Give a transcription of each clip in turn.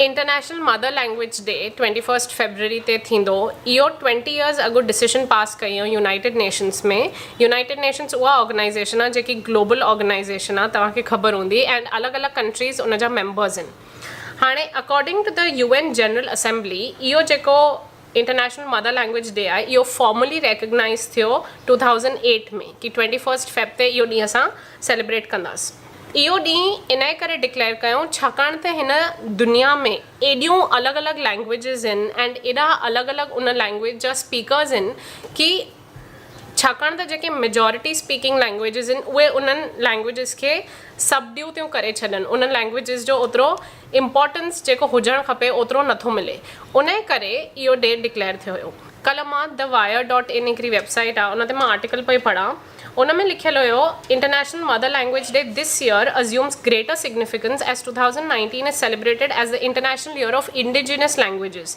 International mother language day twenty first February تي ٿيندو اهو ٽوئنٽي يئرز اڳ ڊسيشن پاس ڪيو يونائيٽيڊ نيشنس ۾ يونائيٽيڊ نيشنس اها آرگنائيزيشن آ جيڪي گلوبل آرگنائيزيشن آ توهان کي خبر هوندي اينڊ الڳ الڳ ڪنٽريز ان جا ميمبرز هن هاڻي according to the U N general assembly اهو جيڪو انٽرنيشنل مدر لينگويج ڊي آهي اهو فارملي ريڪگنائيز ٿيو ٽو ٿائوزنڊ ايٽ ۾ ڪي ٽوئنٽي فرسٽ فيب تي اهو ڏينهن اسان سيليبريٽ ڪنداس اهو ڏينهن انهي ڪري ڊڪليئر ڪيون ڇاڪاڻ ته هن دنيا ۾ ايڏيون الڳ الڳ لينگويجز هن اينڊ ايڏا الڳ الڳ ان لينگويج جا اسپيڪرز هن ڪي ڇاڪاڻ ته جيڪي ميجارٽي اسپيڪنگ لينگويجز آهن اهي انهن لينگويجز کي سٻڏيون ٿيون ڪري ڇڏن انهن لينگويجز جو اوترو امپارٽنس جيڪو هجڻ کپي اوترو نٿو ملي انهي ڪري اهو ڊي ڊڪليئر ٿيو هيو. ڪلهه مان The Wire ڊاٽ ان هڪڙي ويب سائيٽ آهي ان تي مان آرٽيڪل پئي پڙهان ان ۾ لکيل هيو international mother language day this year assumes greater significance as two thousand nineteen is celebrated as the international year of indigenous languages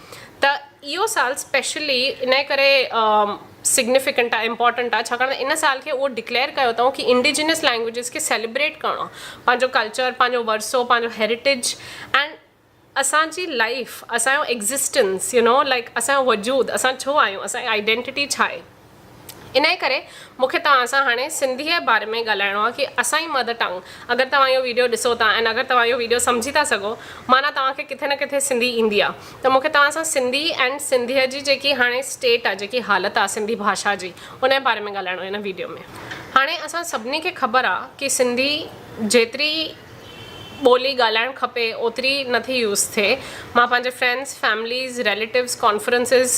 ته اهو سال اسپيشلي انهي ڪري سگنيفڪنٽ آهي امپورٽنٽ آهي ڇاڪاڻ ته ان سال کي اهو ڊڪليئر ڪيو اٿئون ڪي انڊيجنس لينگويجز کي سيليبريٽ ڪرڻو آهي پنهنجو ڪلچر پنهنجو ورثو پنهنجو هيريٽيج اينڊ اسان جي لائيف اسان جو ايگزسٽنس يو نو لائڪ اسان جو وجود اسان ڇو آهيون اسان جي آئيڊينٽيٽي ڇا آهي انهيء ڪري مون کي توهان سان هاڻي سنڌيء جي باري ۾ ڳالهائڻو آهي ڪي اسان جي مدر ٽنگ اگر توهان اهو ويڊيو ڏسو ٿا ۽ اگر توهان اهو ويڊيو سمجهي ٿا سگهو معنيٰ توهان کي ڪٿي نه ڪٿي سنڌي ايندي آهي ته مون کي توهان سان سنڌي ۽ سنڌيء جي جيڪي هاڻي اسٽيٽ آهي جيڪي حالت آهي سنڌي ڀاشا جي ان جي باري ۾ ڳالهائڻو آهي هن ويڊيو ۾. هاڻي اسان سڀني کي خبر آهي ڪي سنڌي جيتري ٻولي ڳالهائڻ کپي اوتري نه ٿي يوز ٿئي مان پنهنجي friends families relatives conferences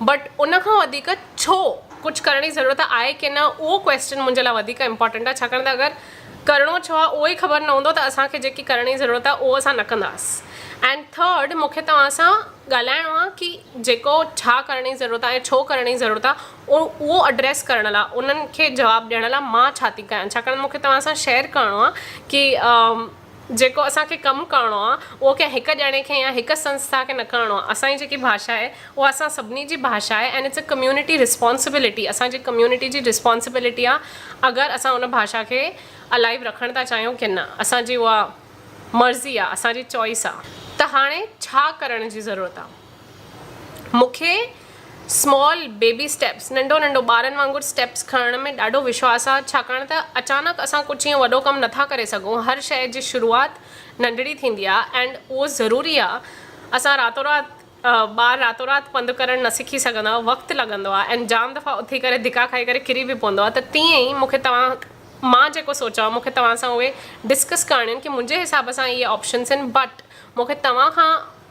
but ان کان وڌيڪ ڇو ڪجهه ڪرڻ جي ضرورت آهي ڪي نه اهو ڪويسچن منهنجي لاء وڌيڪ امپارٽنٽ آهي ڇاڪاڻ ته اگر ڪرڻو ڇو آهي اهو ئي خبر نه هوندو ته اسان کي جيڪي ڪرڻ جي ضرورت آهي اهو اسان نه ڪنداس اينڊ ٿرڊ مونکي توهان سان ڳالهائڻو آهي ڪي جيڪو ڇا ڪرڻ جي ضرورت آهي ڇو ڪرڻ جي ضرورت آهي ۽ اهو اڊريس ڪرڻ لاء انهن کي جواب ڏيڻ لاء مان ڇا ٿي ڪيان ڇاڪاڻ مونکي توهان سان شيئر ڪرڻو آهي ڪي جيڪو اسان کي ڪم ڪرڻو آهي اهو ڪنهن هڪ ڄڻي کي يا هڪ سنسٿا کي نه ڪرڻو آهي. اسان جي جيڪي ڀاشا آهي اها اسان سڀني جي ڀاشا آهي and it's a community responsibility اسان جي ڪميونٽي جي رسپانسبلٽي آهي اگر اسان ان ڀاشا کي الائيو رکڻ ٿا چاهيون ڪي نه اسان جي اها مرضي آهي اسان جي چوائس آهي ته هاڻي ڇا ڪرڻ جي ضرورت آهي. مونکي اسمال بيبي اسٽيپس ننڍو ننڍو ٻارن وانگر اسٽيپس کڻڻ ۾ ڏاڍو وشواس آ ڇاڪاڻ ته اچانڪ اسان ڪجھ ائين وڏو ڪم نٿا ڪري سگهون هر شئي جي شروعات ننڍڙي ٿيندي آ ائنڊ اهو ضروري آ اسان راتو رات ٻار راتو رات پنڌ ڪرڻ نه سکي سگهندا وقت لڳندو آ ائنڊ جام دفعا اٿي ڪري ڌڪا کائي ڪري ڪري به پوندو آ ته تيئن ئي مونکي توهان مان جيڪو سوچان مونکي توهان سان اهي ڊسڪس ڪرڻيون ڪي منهنجي حساب سان اهي آپشنس آهن بٽ مونکي توهان کان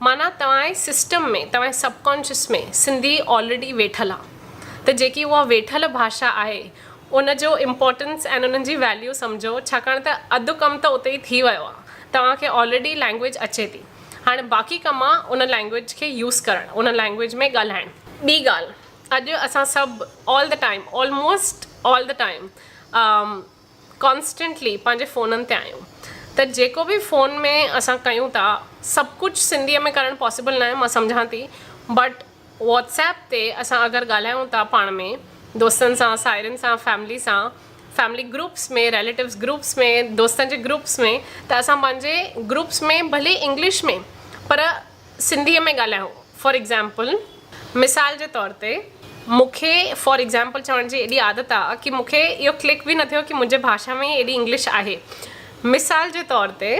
معنيٰ توهان جي سسٽم ۾ توهان جي سب ڪانشس ۾ سنڌي آلريڊي ويٺل آ ته جيڪي اها ويٺل ڀاشا آهي ان جو امپارٽنس ۽ انهن جي ويليو سمجهو ڇاڪاڻ ته اڌ ڪم ته اتي ئي ٿي ويو آ توهان کي آلريڊي لينگويج اچي ٿي هاڻي باقي ڪم آ ان لينگويج کي يوز ڪرڻ ان لينگويج ۾ ڳالهائڻ. ٻي ڳالهه اڄ اسان سڀ all the time almost all the time constantly پنهنجي فونن تي آهيون ته جيڪو به فون ۾ اسان ڪيون ٿا سڀ ڪجهه سنڌيء ۾ ڪرڻ پاسبل ناهي مان سمجهان ٿي بٽ واٽس ايپ تي اسان اگر ڳالهايون ٿا پاڻ ۾ دوستن سان ساهيڙين سان فيملي سان فيملي گروپس ۾ ريليٽوز گروپس ۾ دوستن جي گروپس ۾ ته اسان پنهنجي گروپس ۾ ڀلي انگلش ۾ پر سنڌيء ۾ ڳالهايو. فار ايگزامپل، مثال جي طور تي، مون کي فار ايگزامپل چوڻ جي ايڏي عادت آ ڪي مون کي اهو ڪلڪ به نه ٿيو ڪي منهنجي ڀاشا ۾ ئي ايڏي انگلش آهي. مثال جي طور تي،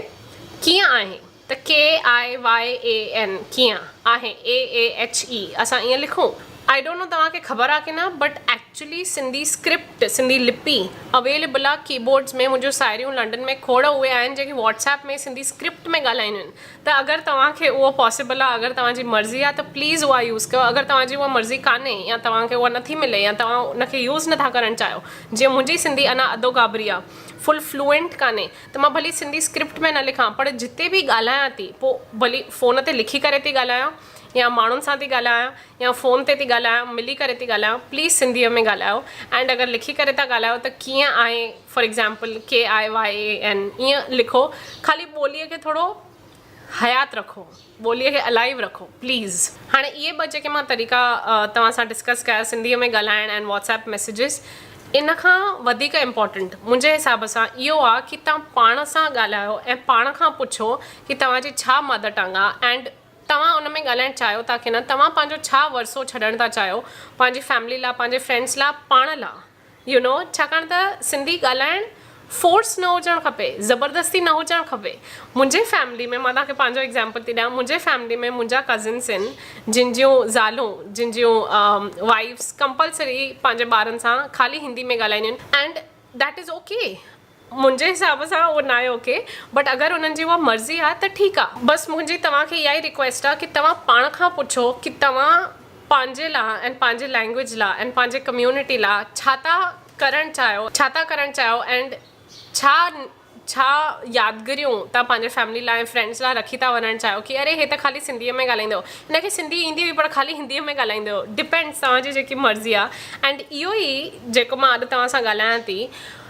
ڪيئن آهي؟ ته KIYAN ڪيئن، آهي AAHE اسان ائين لکون. آئي ڊونٽ نو توهان کي خبر آ ڪي نه but actually Sindhi script, Sindhi لپي اويليبل آ ڪيبورڊز ۾، منهنجون ساهيڙيون لنڊن ۾ کوڙ اهي آهن جيڪي واٽس ايپ ۾ سنڌي اسڪرپٽ ۾ ڳالهائينديون آهن. ته اگر توهان کي اهو پاسيبل آهي اگر توهان جي مرضي آهي ته پليز اها يوز ڪيو اگر توهان جي اها مرضي ڪانهي يا توهان کي اها نٿي ملي يا توهان ان کي يوز نٿا ڪرڻ چاهيو جيئن منهنجي سنڌي اڃا اڌو گابري آهي فل فلوئنٽ ڪانهي ته مان ڀلي سنڌي اسڪرپٽ ۾ نه لکان پر جتي به ڳالهايان ٿي پوء ڀلي فون تي لکي ڪري ٿي ڳالهايان يا ماڻهن سان ٿي ڳالهايان يا فون تي ٿي ڳالهايان ملي ڪري ٿي ڳالهايان پليز سنڌيء ۾ ڳالهايو اينڊ اگر لکي ڪري ٿا ڳالهايو ته ڪيئن آهي فار ايگزامپل، KIYAN، ائين لکو، خالي ٻوليء کي ٿورو حيات رکو، ٻوليء کي الائيو رکو، پليز. هاڻي اهي ٻه جيڪي مان طريقا توهان سان ڊسڪس ڪيا، سنڌيء ۾ ڳالهائڻ ۽ واٽس ايپ ميسيجز، ان کان وڌيڪ امپارٽنٽ منهنجي حساب سان اهو آ ڪي توهان پاڻ سان ڳالهايو ۽ پاڻ کان پڇو ڪي توهان جي ڇا مادر ٽنگ آ اينڊ توهان ان ۾ ڳالهائڻ چاهيو ٿا ڪي نه، توهان پنهنجو ڇا ورثو ڇڏڻ ٿا چاهيو پنهنجي فيملي لا، پنهنجي فرينڊز لا، پاڻ لا. يو نو ڇاڪاڻ ته سنڌي ڳالهائڻ فورس نه هجڻ کپي زبردستي نه هجڻ کپي منهنجي فيملي ۾ مان توهان کي پنهنجو ايگزامپل ٿي ڏيان منهنجي فيملي ۾ منهنجا ڪزنس آهن جن جون زالون جن جون وائيفس ڪمپلسري پنهنجي ٻارن سان خالي هندي ۾ ڳالهائينديون آهن اينڊ ديٽ از اوڪي منهنجي حساب سان اهو ناهي اوڪي بٽ اگر انهن جي اها مرضي آ ته ٺيڪ آ بس منهنجي توهان کي اها ئي ريڪويسٽ آ ڪي توهان پاڻ کان پڇو ڪي توهان پنهنجي لا ۽ پنهنجي لينگويج لا ۽ پنهنجي ڪميونٽي لا ڇا ٿا ڪرڻ چاهيو ڇا ٿا ڪرڻ چاهيو اينڊ ڇا ڇا يادگريون توهان پنهنجي فيملي لا ۽ فرينڊس لا رکي ٿا وڃڻ چاهيو ڪي اري هي ته خالي سنڌي ۾ ڳالهائيندو هو هن کي سنڌي ايندي هئي پر خالي هندي ۾ ڳالهائيندو هو ڊپينڊس توهان جي جيڪي مرضي آ اينڊ اهو ئي جيڪو مان اڄ توهان سان ڳالهايان ٿي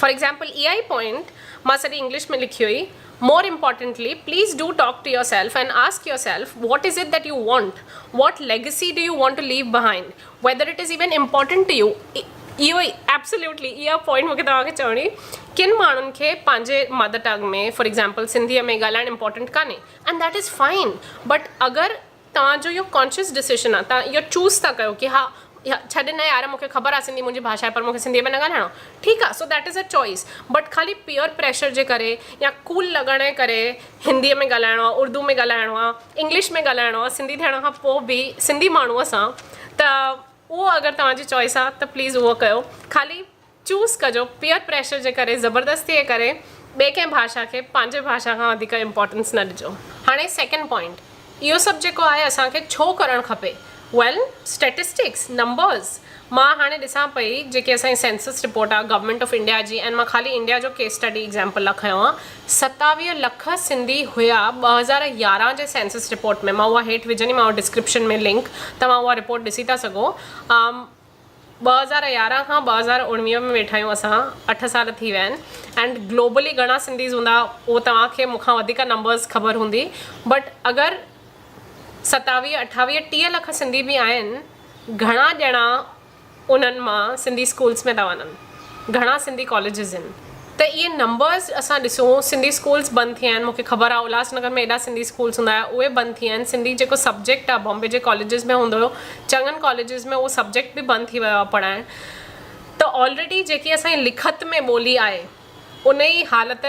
فار ايگزامپل اها ئي پوائنٽ مان سڄي انگلش ۾ لکي هئي. More importantly please do talk to yourself and ask yourself what is it that you want? What legacy do you want to leave behind? Whether it is even important to you? اهو ئي absolutely اها point مون کي توهان کي چوڻي هئي. ڪن ماڻهن کي پنهنجي مدر ٽنگ ۾ فار ايگزامپل سنڌيء ۾ ڳالهائڻ امپارٽنٽ ڪانهي and that is fine but اگر توهان جو اهو ڪانشيس ڊسيشن آهي توهان اهو چوز ٿا ڪيو ڪي ها ڇڏ نه يار مون کي خبر آهي سنڌي منهنجي ڀاشا آهي پر مون کي سنڌي ۾ نه ڳالهائڻو آهي ٺيڪ آهي سو that is a choice but خالي پيئر پريشر جي ڪري يا ڪول لڳڻ جي ڪري هندي ۾ ڳالهائڻو آهي اردو ۾ ڳالهائڻو آهي انگلش ۾ ڳالهائڻو آهي سنڌي ٿيڻ کان پوء به سنڌي ماڻهو سان ته اهو اگر توهان جي چوائس آهي ته پليز اهو ڪيو خالي چوز ڪجو پيئر پريشر جي ڪري زبردستي جي ڪري ٻي ڪنهن ڀاشا کي پنهنجي ڀاشا کان وڌيڪ امپورٽنس نه ڏجو هاڻي سيڪنڊ پوائنٽ اهو سڀ جيڪو آهي اسان کي ڇو ڪرڻ کپي ويل اسٽيٽسٽڪس نمبرز مان هاڻي ڏسان پئي جيڪي اسان جي سينسس رپورٽ آهي گورنمينٽ آف انڊيا جي ۽ مان خالي انڊيا جو ڪيس اسٽڊي ايگزامپل لا کنيو آهي ستاويهه لک سنڌي هيا ٻه هزار يارهن جي سينسس رپورٽ ۾ مان اها هيٺ وجهندي مانو ڊسڪرپشن ۾ لنڪ توهان اها رپورٽ ڏسي ٿا سگهو ٻه هزار يارهن کان ٻه هزار اڻويهه ۾ ويٺايون اسان اٺ سال ٿي ويا آهن اينڊ گلوبلي گهڻا سنڌيز هوندا اهو توهان کي مون کان وڌيڪ نمبرز خبر هوندي بٽ اگر ستاويهه اٺاويهه ٽيهه لک سنڌي به آهن گهڻا ڄڻا انهن مان سنڌي اسڪولز ۾ ٿا وڃن. گهڻا سنڌي ڪاليجز هن ته اهي نمبرز اسان ڏسون سنڌي اسڪولز بند ٿي ويا آهن مونکي خبر آهي الهاس نگر ۾ ايڏا سنڌي اسڪولز هوندا هيا اهي بند ٿي ويا آهن سنڌي جيڪو سبجيڪٽ آهي بامبي جي ڪاليجز ۾ هوندو هيو چڱن ڪاليجز ۾ اهو سبجيڪٽ به بند ٿي ويو آهي پڙهائڻ ته آلريڊي جيڪي اسان جي لکت ۾ ٻولي آهي ان جي حالت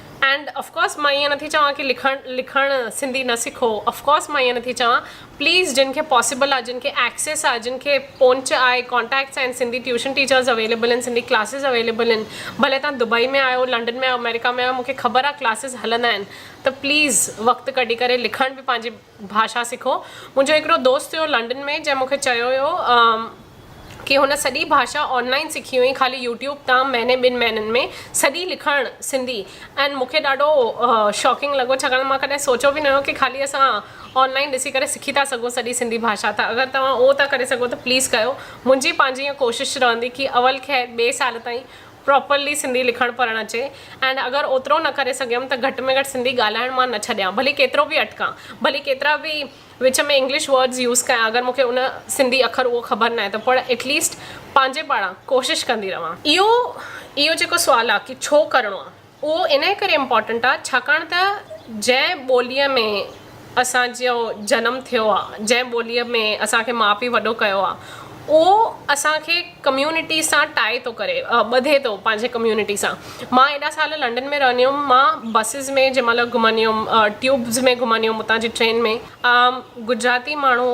اينڊ اف ڪورس مان ائين نٿي چوان ڪي لکڻ لکڻ سنڌي نه سکو اف ڪورس مان ائين نٿي چوان پليز جن کي پاسبل آ جن کي ايڪسيس آ جن کي پونچ آهي ڪونٽيڪٽس آهن Sindhi tuition teachers available in Sindhi classes available in ڀلي تان دبئي ۾ آهيو لنڊن ۾ آهيو امريڪا ۾ آهيو مونکي خبر آ ڪلاسز هلندا آهن ته پليز وقت ڪڍي ڪري لکڻ به پنهنجي ڀاشا سکو منهنجو هڪڙو دوست هيو لنڊن ۾ جنهن مونکي چيو هيو ڪي هن سڄي ڀاشا آن لائين سکي هئي خالي يوٽيوب تان مهيني ٻن مهينن ۾ سڄي لکڻ سنڌي ۽ مونکي ڏاڍو شاڪنگ لڳو ڇاڪاڻ مان ڪڏهن سوچيو به نه هيو ڪي خالي اسان آن لائين ڏسي ڪري سکي ٿا سگهون سڄي سنڌي ڀاشا ته اگر توهان اهو ٿا ڪري سگهو ته پليز ڪيو منهنجي پنهنجي هيء ڪوشش رهندي ڪي اول خير ٻي سال تائين پراپرلي سنڌي لکڻ پڙهڻ اچي ۽ اگر اوترو نه ڪري سگهيم ته گهٽ ۾ گهٽ سنڌي ڳالهائڻ مان نه ڇڏيان ڀلي ڪيترو به اٽڪان ڀلي ڪيترا به وچ ۾ انگلش ورڊز يوز ڪيان اگر مون کي ان سنڌي اکر اهو خبر ناهي ته پر ايٽ ليسٽ پنهنجي پاران ڪوشش ڪندي رهان. اهو اهو جيڪو سوال آ ڪي ڇو ڪرڻو آ. اهو انهيء ڪري امپارٽنٽ آهي ڇاڪاڻ ته جنهن ٻوليء ۾ اسان جو جنم ٿيو آهي، جنهن ٻوليء ۾ اسان کي ماء پيء وڏو ڪيو آهي اهو اسان کي ڪميونٽي سان ٽائي ٿو ڪري، ٻڌي ٿو پنهنجي ڪميونٽي سان. مان ايڏا سال لنڊن ۾ رهندي هيم مان بسز ۾ جنهن مهل گهمندي هيم ٽيوبز ۾ گهمندي هيم اتان جي ٽرين ۾ گجراتي ماڻهو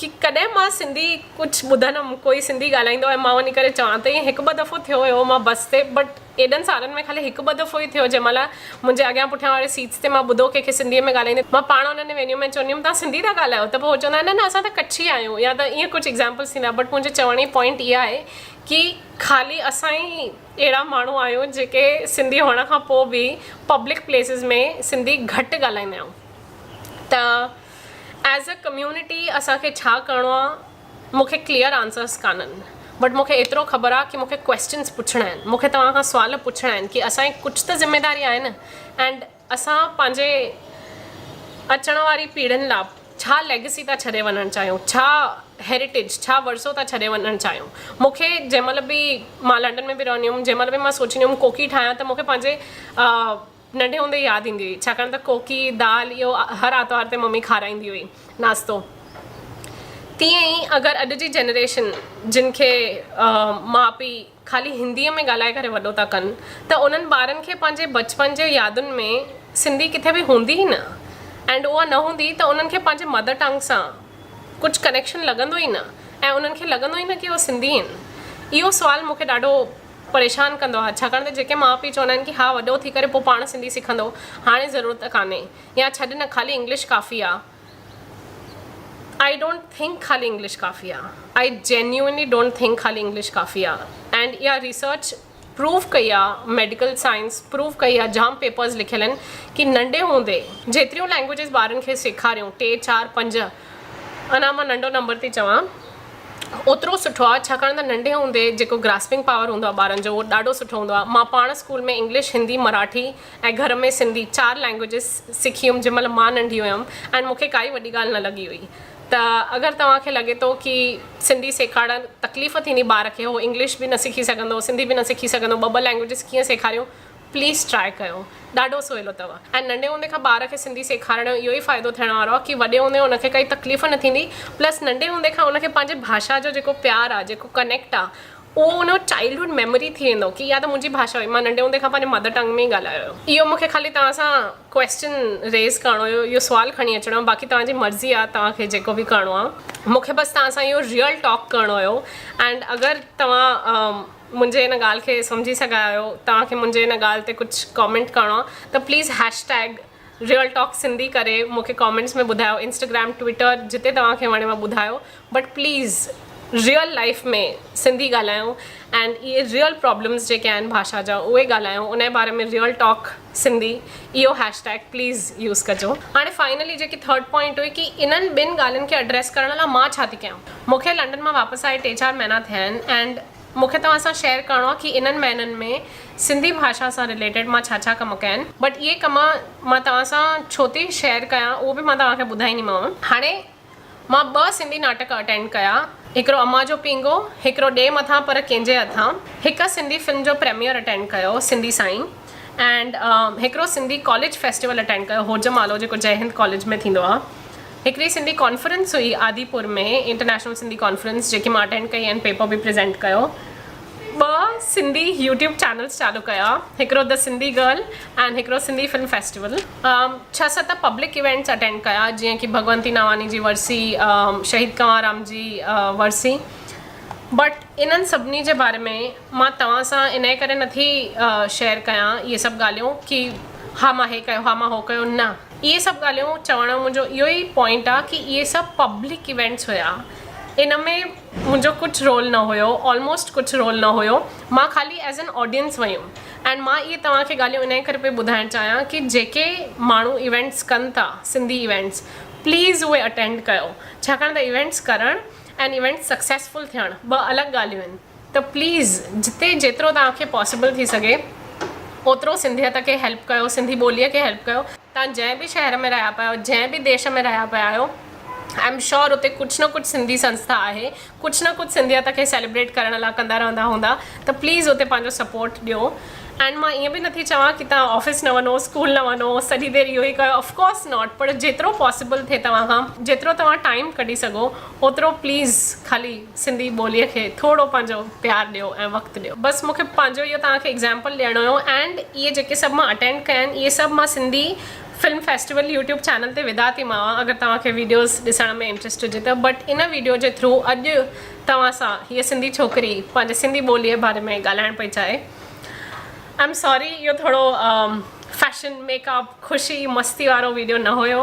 ڪي ڪڏهن مان سنڌي ڪجهه ٻڌندم ڪوئي سنڌي ڳالهائيندو ۽ مان وڃي ڪري چوان ته ائين هڪ ٻه دفعو ٿيو هيو مان بس تي بٽ ايڏن سالن ۾ خالي هڪ ٻه دفعو ئي ٿيو جنهن مهل منهنجي اڳيان پٺيان واري سيٽس تي مان ٻڌو ڪنهن کي سنڌي ۾ ڳالهائيندي مان پاڻ انهن وينيون ۾ چوندي هيم توهان سنڌي ٿا ڳالهايو ته پوء هو چوندا نه نه اسان ته ڪڇي آهيون يا ته ائين ڪجهه ايگزامپلز ٿيندا بٽ منهنجي چوڻ جي پوائنٽ اها آهي ڪي خالي اسان ئي اهڙا ماڻهو آهيون جيڪي سنڌي هئڻ کان پوء به پبلڪ پليسز ۾ سنڌي گهٽ ڳالهائيندا آهيون ته ايز اي ڪميونٽي اسان کي ڇا ڪرڻو آ مون کي ڪليئر آنسرس ڪانهن بٽ مون کي ايترو خبر آ ڪي مون کي ڪويسچنس پڇڻا آهن مون کي توهان کان سوال پڇڻا آهن ڪي اسان جي ڪجھ ته ذميداري آهي نه اينڊ اسان پنهنجي اچڻ واري پيڙهين لا ڇا ليگسي ٿا ڇڏي وڃڻ چاهيون ڇا هيريٽيج ڇا ورثو ٿا ڇڏي وڃڻ چاهيون مون کي جنهن مهل به مان لنڊن ۾ به رهندي هيم جنهن مهل به مان سوچيندي هيم ڪوڪي ٺاهيان ته مون کي پنهنجي ننڍي هوندي ياد ايندي هئي ڇاڪاڻ ته ڪوڪي دال اهو هر آرتوار تي ممي کارائيندي هئي ناشتو تيئن ئي اگر اڄ جي جنريشن جن کي ماء پيء خالي هندي ۾ ڳالهائي ڪري وڏو ٿا ڪن ته انهن ٻارن کي پنهنجي بچپن جي يادن ۾ سنڌي ڪٿي به هوندي ئي نه اينڊ اها نه هوندي ته انهن کي پنهنجي مدر ٽنگ سان ڪجهه ڪنيڪشن لڳندو ئي نه ۽ انهن کي لڳندو ئي نه ڪي اهو سنڌي آهن اهو سوال مونکي ڏاڍو پريشان ڪندو آهي ڇاڪاڻ ته جيڪي ماء پيء چوندا آهن ڪي ها وڏو ٿي ڪري پوء پاڻ سنڌي سکندو هاڻي ضرورت ڪانهي يا ڇڏ نه خالي انگلش ڪافي آ آئي ڊونٽ ٿنڪ خالي انگلش ڪافي آ آئي جينيونلي ڊونٽ ٿنڪ خالي انگلش ڪافي آ اينڊ اها ريسرچ پروف ڪئي آ ميڊيڪل سائنس پروف ڪئي آ جام پيپرز لکيل آهن ڪي ننڍي هوندي جيتريون لينگويجز ٻارن کي سيکاريون ٽي چار پنج اڃا مان ننڍو نمبر ٿي چوان اوترو سٺو آ ڇاڪاڻ ته ننڍي هوندي جيڪو گراسپنگ پاور هوندو آ ٻارن جو اهو ڏاڍو سٺو هوندو آ مان پاڻ اسڪول ۾ انگلش هندي مراٺي ۽ گهر ۾ سنڌي چار لينگويجز سکي هيم جنهن مهل مان ننڍي هيم ۽ مون کي ڪائي وڏي ڳالهه نه لڳي هئي ته اگر توهان کي لڳي ٿو ڪي سنڌي سيکارڻ تڪليف ٿيندي ٻار کي هو انگلش به نه سکي سگهندو سنڌي به نه سکي سگهندو ٻه ٻه لينگويجز ڪيئن سيکاريون پليز ٽرائي ڪيو ڏاڍو سولو تھو ۽ ننڍي ھوندي کان ٻار کي سنڌي سيکارڻ جو اھو ئي فائدو ٿيڻ وارو آ ڪي وڏي ھوندي ان کي ڪائي تڪليف نه ٿيندي پلس ننڍي ھوندي کان ان کي پنھنجي ڀاشا جو جيڪو پيار آ جيڪو ڪنيڪٽ آ اھو ان جو چائلڊ ھوڊ ميموري ٿي ويندو ڪي اھا ته منھنجي ڀاشا ھئي مان ننڍي ھوندي کان پنھنجي مدر ٽنگ ۾ ئي ڳالھايو ھيو اھو مون کي خالي توھان سان ڪويسچن ريز ڪرڻو ھيو اھو سوال کڻي اچڻو ھيو باقي توھان جي مرضي آ توھان کي جيڪو به ڪرڻو آ مون کي بس توھان سان اھو ريئل ٽاڪ ڪرڻو ھيو اينڊ اگر توھان منهنجي ان ڳالهه کي سمجهي سگهيا آهيو توهان کي منهنجي ان ڳالهه تي ڪجهه ڪامينٽ ڪرڻو آهي ته please hashtag real talk Sindhi ڪري مون کي ڪامينٽس ۾ ٻڌايو انسٽاگرام ٽوئيٽر جتي توهان کي وڻيو ٻڌايو but please real life ۾ Sindhi ڳالهايون اينڊ اهي ريئل پرابلمس جيڪي آهن ڀاشا جا اهي ڳالهايون ان جي باري ۾ ريئل ٽاڪ سنڌي اهو هيش ٽيگ پليز يوز ڪجو. هاڻي فائنلي جيڪي ٿرڊ پوائنٽ هئي ڪي انهن ٻن ڳالهين کي اڊريس ڪرڻ لا مان ڇا ٿي ڪيان. مون کي لنڊن مان واپس آئي ٽي چار مهينا ٿيا آهن اينڊ مون کي توهان سان شيئر ڪرڻو آهي ڪي انهن مهينن ۾ سنڌي ڀاشا سان رليٽيڊ مان ڇا ڇا ڪم ڪيا آهن. بٽ اهي ڪم مان توهان سان ڇو ٿي شيئر ڪيان اهو به مان توهان کي ٻڌائينديمانو. هاڻي مان ٻه سنڌي ناٽڪ اٽينڊ ڪيا، هڪڙو امان جو پينگهو، هڪڙو ڏي مٿان پر ڪينجهي هٿان، هڪ سنڌي فلم جو پريميئر اٽينڊ ڪيو سنڌي سائين اينڊ هڪڙو سنڌي ڪاليج فيسٽيول اٽينڊ ڪيو هوجمالو جيڪو جئي هند ڪاليج ۾ ٿيندو آ. هڪڙي سنڌي ڪانفرنس هئي آديپور ۾ انٽرنيشنل سنڌي ڪانفرنس جيڪي مان اٽينڊ ڪئي اينڊ پيپر به پريزينٽ ڪيو. ٻه سنڌي يوٽيوب چينلز چالو ڪيا هڪڙو The Sindhi Girl ۽ هڪڙو سنڌي فلم فيسٽيول ڇهه ست پبلڪ ايونٽس اٽينڊ ڪيا جيئن ڪي ڀڳونتي ناواني جي ورسي شهيد ڪنوارام جي ورسي بٽ انهن سڀني جي باري ۾ مان توهان سان انهي ڪري نٿي شيئر ڪيان اهي سڀ ڳالهيون ڪي ها مان هي ڪيو ها مان هو ڪيو نه اهي سڀ ڳالهيون چوڻ جو منهنجو اهو ئي پوائنٽ آ ڪي اهي سڀ پبلڪ ايونٽس هيا ان ۾ منهنجو ڪجهه رول نه هيو آلموسٽ ڪجهه رول نه هيو مان خالي ايز ان آڊينس ويم اينڊ مان اهي توهان کي ڳالهيون انهي ڪري پئي ٻڌائڻ چاهيان ڪي جيڪي ماڻهو ايونٽس ڪن ٿا سنڌي ايونٽس پليز اهي اٽينڊ ڪيو ڇاڪاڻ ته ايونٽس ڪرڻ اينڊ ايونٽس سڪسيسفل ٿيڻ ٻه الڳ ڳالهيون آهن ته پليز جتي جيترو توهان کي پاسيبل ٿي سگهي اوترو سنڌيت کي هيلپ ڪيو سنڌي ٻولي کي هيلپ ڪيو. توهان جنهن به شهر ۾ رهيا پيا آهيو جنهن به ديش ۾ رهيا پيا آهيو آئي ايم شور اتي ڪجهه نه ڪجهه سنڌي سنسٿا آهي ڪجهه نه ڪجهه سنڌيت کي سيليبريٽ ڪرڻ لاء ڪندا رهندا هوندا ته پليز اتي پنهنجو سپورٽ ڏيو اينڊ مان ائين به نٿي چوان ڪي توهان آفيس نه وڃو اسڪول نه وڃو سڄي دير اهو ئي ڪيو اف ڪورس ناٽ پر جيترو پاسيبل ٿئي توهان کان جيترو توهان ٽائيم ڪڍي سگهو اوترو پليز خالي سنڌي ٻوليء کي ٿورو پنهنجو پيار ڏيو ۽ وقت ڏيو. بس مون کي پنهنجو اهو توهان کي ايگزامپل ڏيڻو هيو اينڊ اهي جيڪي سڀ مان اٽينڊ ڪيا آهن اهي سڀ مان Sindhi film festival YouTube channel تي وڌا ٿي ماوا اگر توهان کي ويڊيوز ڏسڻ ۾ انٽريسٽ هجي ته بٽ ان ويڊيو جي ٿرو اڄ توهان سان هيء سنڌي ڇوڪري پنهنجي سنڌي ٻوليء باري ۾ ڳالهائڻ پئي چاهي آئي ايم ساري اهو ٿورو فيشن ميڪ اپ خوشي مستي وارو ويڊيو نه هيو.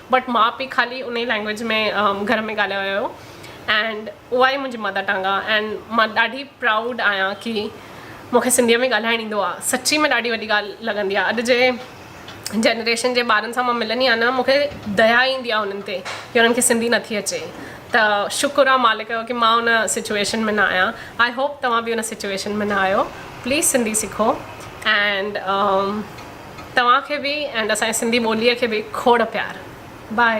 بٽ ماء پي خالي انهي لينگويج ۾ گهر ۾ ڳالهايو ويو اينڊ اها ئي منهنجي مدر ٽنگ آ اينڊ مان ڏاڍي پرائوڊ آهيان ڪي مونکي سنڌي ۾ ڳالهائڻ ايندو آ سچي ۾ ڏاڍي وڏي ڳالهه لڳندي آ اڄ جي جنريشن جي ٻارن سان مان ملندي آهيان نه مونکي ديا ايندي آ انهن تي ڪي انهن کي سنڌي نٿي اچي ته شڪر آ مالڪ جو ڪي مان ان سچويشن ۾ نه آهيان آئي هوپ توهان به ان سچويشن ۾ نه آهيو پليز سنڌي سکو اينڊ توهان کي به ۽ اسان جي سنڌي ٻولي کي به کوڙ پيار باء.